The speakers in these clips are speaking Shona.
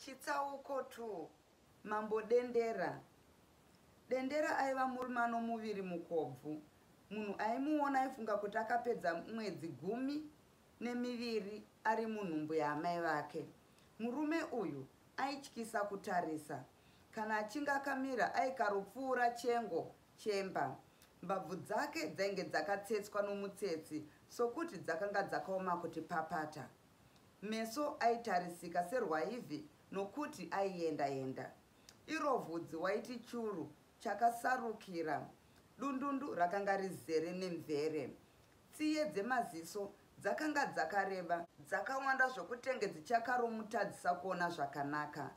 Chitsauko 2 Mambo Dendera Dendera aiva murume anomuviri mukobvu. Munhu aimuona aifunga kuti akapedza mwedzi gumi nemiviri ari munhumbu yaamai vake. Murume uyu aityisa kutarisa. Kana achinge akamira aikaropfuura chengo chemba. Mbabvu dzake dzainge dzakatsetswa nomutsetsi sokuti dzakanga dzakaoma kuti papata. Meso aitarisika serwaivhi nokuti aienda enda. Iro vhudzi waiti churu chakasarukira. Dundundu rakanga rizere nemvere. Tsiye dzemaziso dzakanga dzakareba. Dzakawanda zvokutenge dzichakaromutadzisa kuona zvakanaka.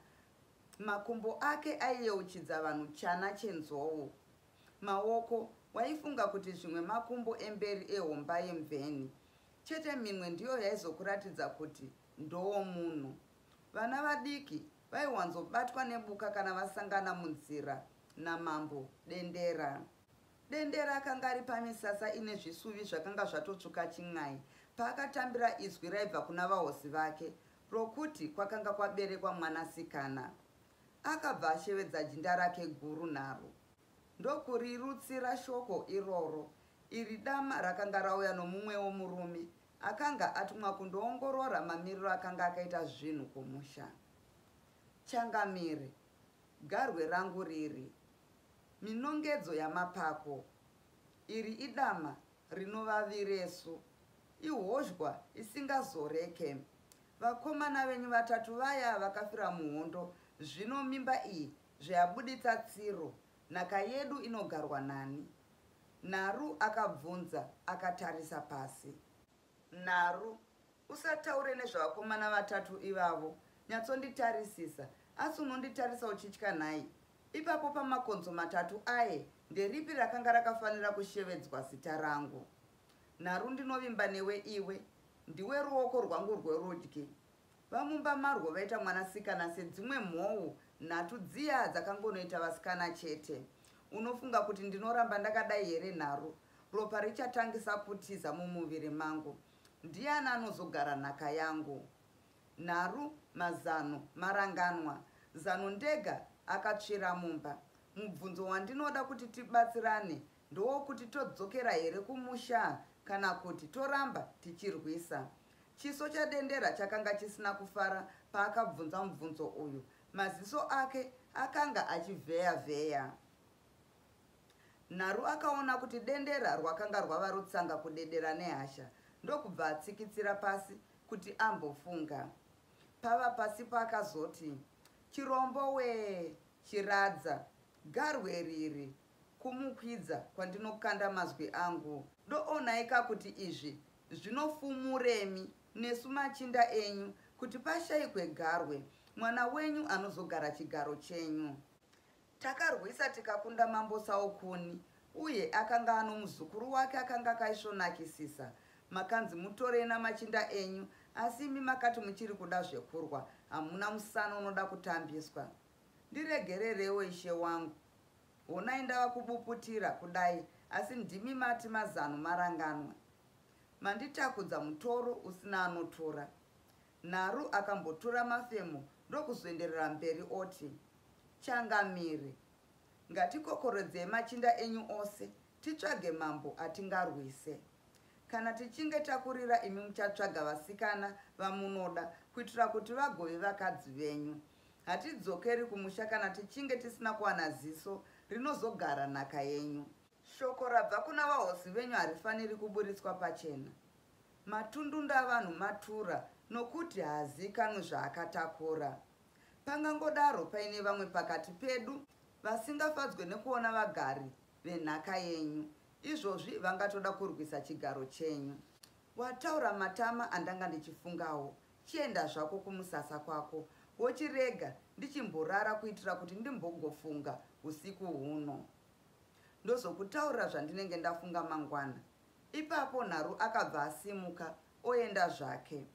Makumbo ake aiyeuchidza vanhu chana chenzou. Maoko waifunga kuti zvimwe makumbo emberi ehomba yemveni. Chete mimwe ndiyo yaizokuratidza kuti ndowomunhu. Vana vadiki vaiwanzobatwa nebuka kana vasangana munzira naMambo Dendera. Dendera akanga ari pamisasa ine zvisuvi zvakanga zvatotsvuka chin'ai paakatambira izwi raibva kuna vahosi vake rokuti kwakanga kwaberekwa mwanasikana. Akabva ashevedza jinda rake guru nharo. ndokurirutsira shoko iroro. Iri dama rakanga rauya nomumwewo murume akanga atumwa kundoongorora mamiriro akanga akaita zvinhu kumusha. Changamire, garwe rangu riri, minongedzo yamapako. Iri idama rinovaviresu, ihozhwa isingazoreke. Vakomana venyu vatatu vaya vakafira muhondo, zvino mimba iyi Zveabuditsa tsiro, nhaka yedu inogarwa nani? Naru akabvunza akatarisa pasi. Naru, usataure nezvevakomana vatatu ivavo, nyatsonditarisisa, asi unonditarisa uchitya nhai? Ipapo pamakonzo matatu aye nderipi rakanga rakafanira kushevedzwa zita rangu? Naru ndinovimba newe iwe, ndiwe ruoko rwangu rwerudyi, Vamumba marwo vaita mwanasikana sedzimwe mhou nhatu dziya dzakangonoita vasikana chete. Unofunga kuti ndinoramba ndakadai here nharo? Ropa richatangisa kutiza mumuviri mangu. Ndiani anozogara nhaka yangu? Nharu, mazano, maranganwa. Zano ndega akatsvira mumba. Mubvunzo wandinoda kuti tibatsirane ndowokuti todzokera here kumusha kana kuti toramba tichirwisa. Chiso chaDendera chakanga chisina kufara paakabvunza mubvunzo uyu. Maziso ake akanga achivheya-vheya. Nharu akaona kuti dendera rwakanga rwava rutsanga kudedera nehasha ndokubva atsikitsira pasi kuti ambofunga. Pava pasi paakazoti, Chirombo wee, chiradza, garwe riri, Kumukwidza kwandinokanda mazwi angu. Doonai ka kuti izvi zvinofumuremi nesu machinda enyu kuti pashaikwe garwe, mwana wenyu anozogara chigaro chenyu. Takarwisa tikakunda Mambo Saukuni uye akanga ano muzukuru wake akanga akaisvonakisisa. Makanzi mutorei namachinda enyu asi imi makati muchiri kuda zvekurwa, hamuna musana unoda kutambiswa. Ndiregerereiwo ishe wangu, Honai ndava kubuputira kudai asi ndimi mati mazano maranganwa. Manditakudza mutoro usina anotora. Naru akambotura mafemo ndokuzoenderera mberi oti, Changamire, ngatikokorodzei machinda enyu ose titsvage mambo atingarwise. Kana tichinge takurira imi muchatsvaga vasikana vamunoda kuitira kuti vagove vakadzi venyu. Hatidzokeri kumusha kana tichinge tisina kuwana ziso rinozogara nhaka yenyu. Shoko rabva kuna vahosi venyu harifaniri kuburitswa pachena. Matundunda avanhu matura nokuti haaziikanwi zvaakatakura. Pangangodaro paine vamwe pakati pedu vasingafadzwe nekuona vagari venhaka yenyu, izvozvi vangatoda kurwisa chigaro chenyu. Wataura matama andanga ndichifungawo, Chienda zvako kumusasa kwako wochirega ndichimborara kuitira kuti ndimbogofunga usiku huno. Ndozokutaurira zvandinenge ndafunga mangwana. Ipapo Nharu akabva asimuka oenda zvake.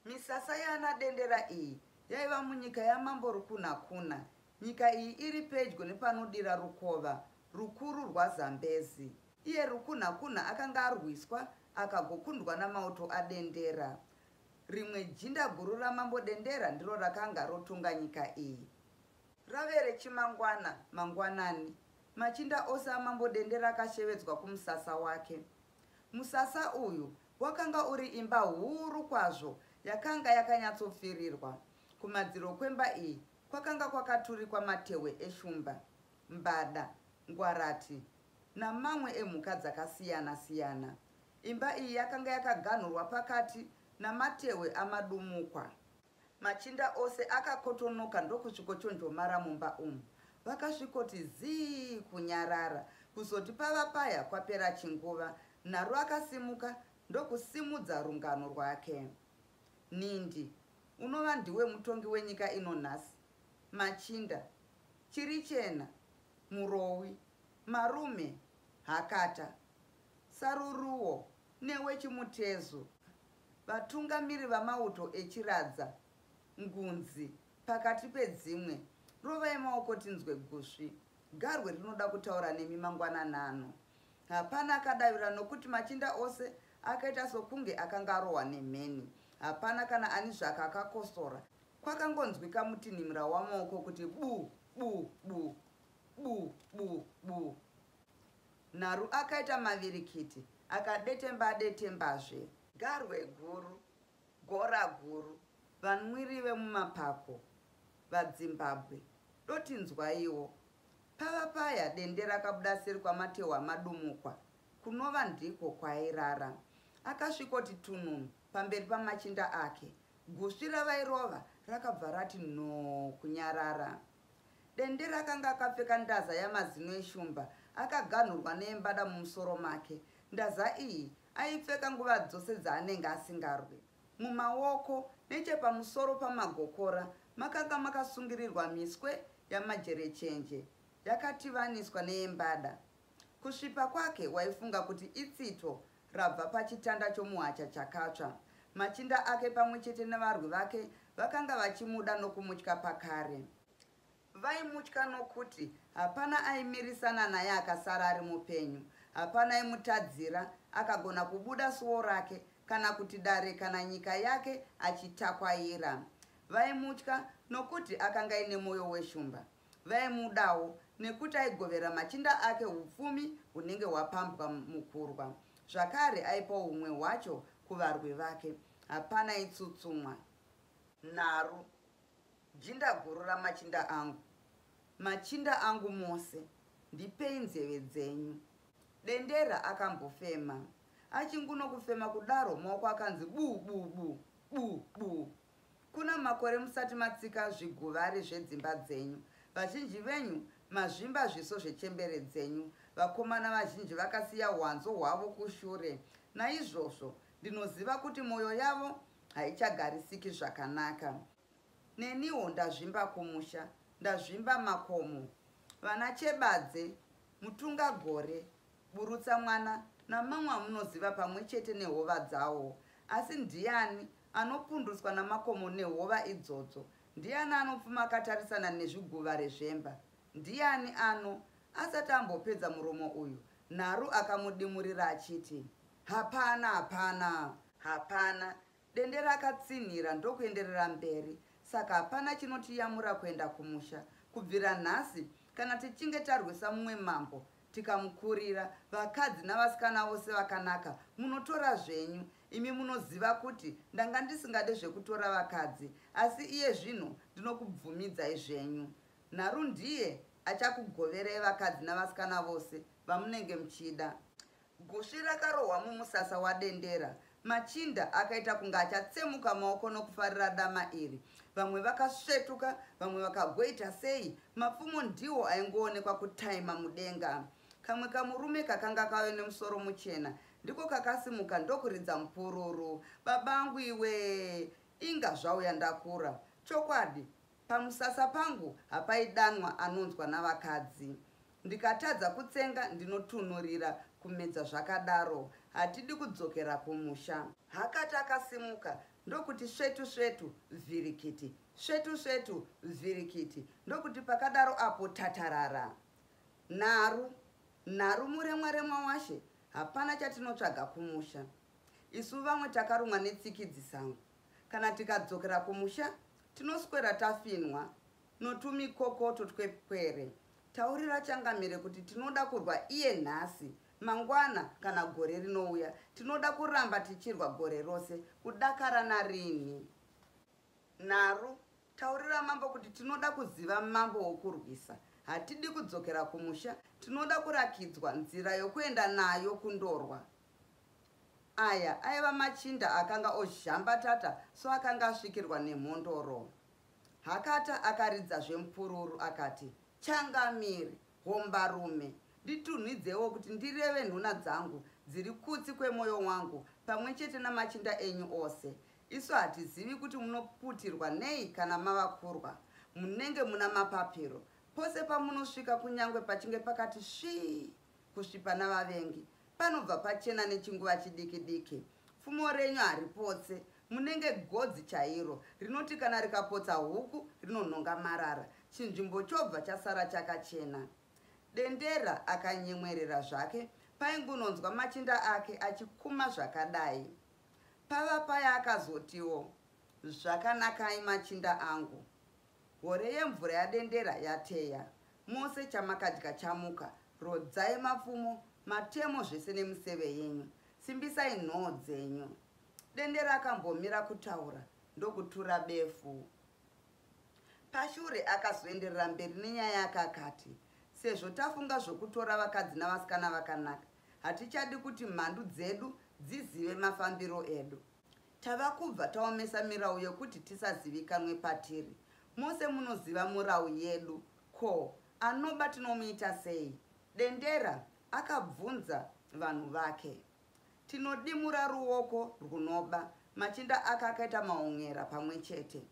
Misasa yaana Dendera iyi yaiva munyika yaMambo Rukunhakuna. Nyika iyi iri pedyo nepanodira rukova rukuru rwaZambezi. Iye Rukunhakuna akanga arwiswa akagokundwa namauto aDendera. Rimwe jinda guru ramambo Dendera ndiro rakanga rotonga nyika iyi. Rave rechimangwana mangwanani, machinda ose amambo Dendera akashevedzwa kumusasa wake. Musasa uyu wakanga uri imba huru kwazvo yakanga yakanyatsopfirirwa. Kumadziro kwemba iyi kwakanga kwakaturikwa matehwe eshumba, mbada, ngwarati, namamwe emhuka dzakasiyana siyana. Imba iyi yakanga yakaganhurwa pakati namatehwe amadumukwa. Machinda ose akakotonoka ndokusvikochonjomara mumba umu. Vakasvikoti zii kunyarara kuzoti pava paya kwapera chinguva, Nharo akasimuka ndokusimudza rungano rwake. Nhindi, unova ndiwe mutongi wenyika ino nhasi. Machinda, chirichena, murowi, Marume Hakata, Saruruwo newe Chimutezu, vatungamiri vamauto eChiradza, Ngunzi, pakati pedzimwe, rovai maoko tinzwe gusvi. Garwe rinoda kutaura nemi mangwanani ano. Hapana akadavira nokuti machinda ose akaita sokunge akanga arohwa nemheni. Hapana kana ani zvake akakosora. Kwakangonzwika mutinhimira wamaoko kuti bu bu bu. bu bu bu Naru akaita mavirikiti akadetemba adetembazve Garwe guru gora guru Vanwiri vemumapako vaDzimbabwe doti nzwaiwo Pava paya dende rakabuda seri kwamatehwa madumukwa kunova ndiko kwaairara Akasvikoti tununu pamberi pamachinda ake gusvi ravairova rakabva rati nhoo kunyarara Dendere akanga akapfeka ndaza yamazino eshumba akaganhurwa neyembada mumusoro make. Ndaza iyi aipfeka nguva dzose dzaanenge asingarwi. Mumaoko nechepamusoro pamagokora makanga makasungirirwa miswe yamajerechenje yakativaniswa neyembada. Kusvipa kwake waifunga kuti itsito rabva pachitanda chomuhacha chakatsva. Machinda ake pamwe chete nevarwi vake vakanga vachimuda nokumutya pakare. Vaimutya nokuti hapana aimirisana naye akasara ari mupenyu, hapana aimutadzira, akagona kubuda suo rake, kana kuti dare kana nyika yake achitakwaira. Vaimutya nokuti akanga aine mwoyo weshumba. Vaimudawo nekuti aigovera machinda ake upfumi hunenge hwapambwa mukurwa. Zvakare aipawo humwe hwacho kuvarwi vake. Hapana itsutsumwa. Nharo, jinda guru ramachinda angu, machinda angu mose, ndipei nzeve dzenyu. Dendera akambofema. Achingunokufema kudaro maoko akanzi buu buu buu, buu buu. Kuna makore musati matsika zviguvari zvedzimba dzenyu, vazhinji venyu mazvimba zviso zvechembere dzenyu, vakomana vazhinji vakasiya hwanzo hwavo kushure. Naizvozvo ndinoziva kuti mwoyo yavo haichagarisiki zvakanaka. Neniwo ndazvimba kumusha, ndazvimba makomo. Vana Chebadze, Mutungagore, Burutsamwana namamwe amunoziva pamwe chete nehova dzawo. Asi ndiani Anopundutswa namakomo nehova idzodzo. Ndiani anopfuma akatarisana nezviguva rezvemba? Ndiani ano. Asati ambopedza murumo uyu, Nharu akamudimurira achiti, Hapana! Hapana! Hapana! Dendera akatsinhira ndokuenderera mberi, Saka hapana chinotiyamura kuenda kumusha. Kubvira nhasi, kana tichinge tarwisa mumwe mambo, tikamukurira, vakadzi navasikana vose vakanaka munotora zvenyu. Imi munoziva kuti ndanga ndisingade zvekutora vakadzi asi iye zvino ndinokubvumidzai zvenyu. Nharu ndiye achakugoverai vakadzi navasikana vose vamunenge muchida. Gusvi rakarohwa mumusasa waDendera. Machinda akaita kunge achatsemuka maoko nokufarira dama iri. Vamwe vakasvetuka, vamwe vakagoita sei, mapfumo ndiwo aingoonekwa kutaima mudenga. Kamwe kamurume kakanga kave nemusoro muchena ndiko kakasimuka ndokuridza mupururu. Babangu iwee, inga zvauya ndakura. Chokwadi, pamusasa pangu hapaidanwa anonzwa navakadzi. Ndikatadza kutsenga ndinotunhurira kumedza zvakadaro. Hatidi kudzokera kumusha. Akati akasimuka ndokuti svetu svetu vhirikiti, svetu svetu vhirikiti ndokuti pakadaro apo tatarara. Nharu, nharu muremwa remwa washe hapana chatinotsvaga kumusha. Isu vamwe takarumwa netsikidzi sango. Kana tikadzokera kumusha tinoswera tafinhwa notumikokoto twepwere. Taurira changamire kuti tinoda kurwa iye nhasi, mangwana kana gore rinouya. Tinoda kuramba tichirwa gore rose, kudakara narini. Nharu, taurira mambo kuti tinoda kuziva mambo wokurwisa. Hatidi kudzokera kumusha, tinoda kurakidzwa nzira yokuenda nayo kundorwa. Aya aiva machinda akanga ozhambatata so akanga asvikirwa nemhondoro. Hakata akaridza zvemupururu akati, Changamire, hombarume, nditunhidzewo kuti ndireve nhuna dzangu dziri kutsi kwemoyo wangu pamwe chete namachinda enyu ose. Isu hatizivi kuti munoputirwa nei kana mava kurwa. Munenge muna mapapiro. Pose pamunosvika kunyangwe pachinge pakati svii kusvipa navavengi, panobva pachena nechinguva chidiki diki. Pfumo renyu haripotse. Munenge godzi chairo rinoti kana rikapotsa huku rinonhonga marara, chinzvimbo chobva chasara chakachena. Dendera akanyemwerera zvake paingunonzwa machinda ake achikuma zvakadai. Pava paya akazotiwo, Zvakanakai machinda angu, hore yemvura yadendera yateya, mose chamakadya chamuka, rodzai mapfumo, matemo zvese nemiseve yenyu, simbisai nhoo dzenyu. Dendera akambomira kutaura ndokutura befu. Pashure akazoenderera mberi nenyaya yake akati, Sezvo tafunga zvokutora vakadzi navasikana vakanaka, Hatichadi kuti mhandu dzedu dzizive mafambiro edu. Tava kubva taomesa mirau yekuti tisazivikanwe patiri. Mose munoziva murau yedu. Ko, anoba tinomuita sei? Dendera akabvunza vanhu vake. Tinodimura ruoko rwunoba. Machinda ake akaita maonyera pamwe chete.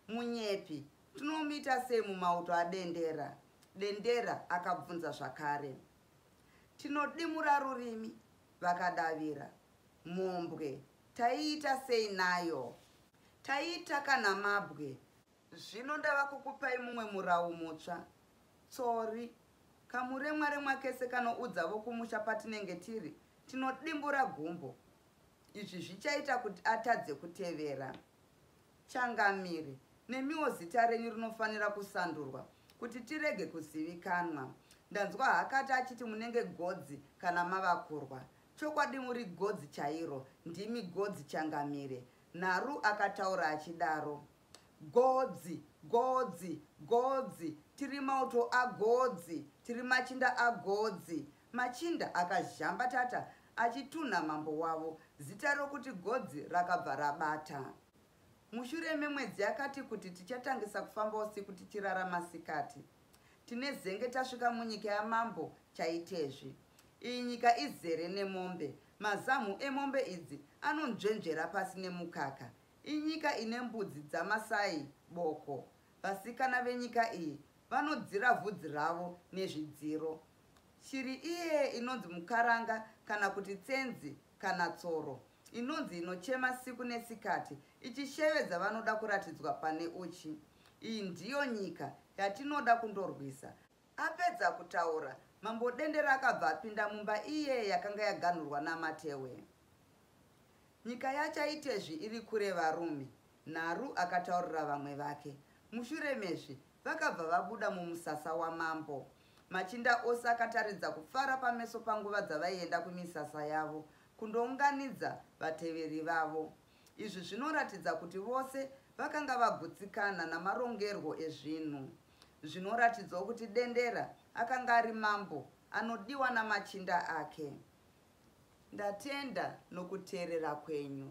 Munyepi, tinomuita sei mumauto aDendera? Dendera akabvunza zvakare. tinodimura rurimi vakadavira mhombwe taiita sei nayo taiita kana mabwe zvino ndava kukupai mumwe murawu mutsva tsori kamuremwa remwa kese kanoudza vokumusha patinenge tiri tinodimbura gumbo izvi zvichaita kuti atadze kutevera Changamire, nemiwo zita renyu rinofanira kusandurwa kuti tirege kuzivikanwa. Ndanzwa Hakata achiti munenge godzi kana mava kurwa. Chokwadi muri godzi chairo, ndimi godzi Changamire, Nharu akataura achidaro. Godzi! Godzi! Godzi! Tiri mauto agodzi! Tiri machinda agodzi! Machinda akazhamba tata achitunha mambo wavo, zita rokuti Godzi rakabva rabata. Mushure memwedzi yakati kuti tichatangisa kufamba usiku tichirara masikati. Tine zenge tasvika munyika yamambo Chaitezvi. Iyi nyika izere nemombe. Mazamhu emombe idzi anonzvenzvera pasi nemukaka. Inyika ine mbudzi dzaMasai boko. Vasikana venyika iyi vanodzira vhudzi ravo nezvidziro. Shiri iye inonzi mukaranga kana kuti tsenzi kana tsoro inonzi inochema siku nesikati ichishevedza vanoda kuratidzwa pane uchi. Iyi ndiyo nyika yatinoda kundorwisa. Apedza kutaura, Mambo Dendera akabva apinda mumba iye yakanga yaganhurwa naMatewe. Nyika yaChaitezvi iri kure varume, Nharu akataurira vamwe vake. Mushure mezvi, Vakabva vabuda mumusasa wamambo. Machinda ose akataridza kufara pameso panguva dzavaienda kumisasa yavo kundounganidza vateveri vavo. Izvi zvinoratidza kuti vose vakanga vagutsikana namarongerwo ezvinhu. Zvinoratidzawo kuti Dendera akanga ari mambo anodiwa namachinda ake. Ndatenda nokuteerera kwenyu.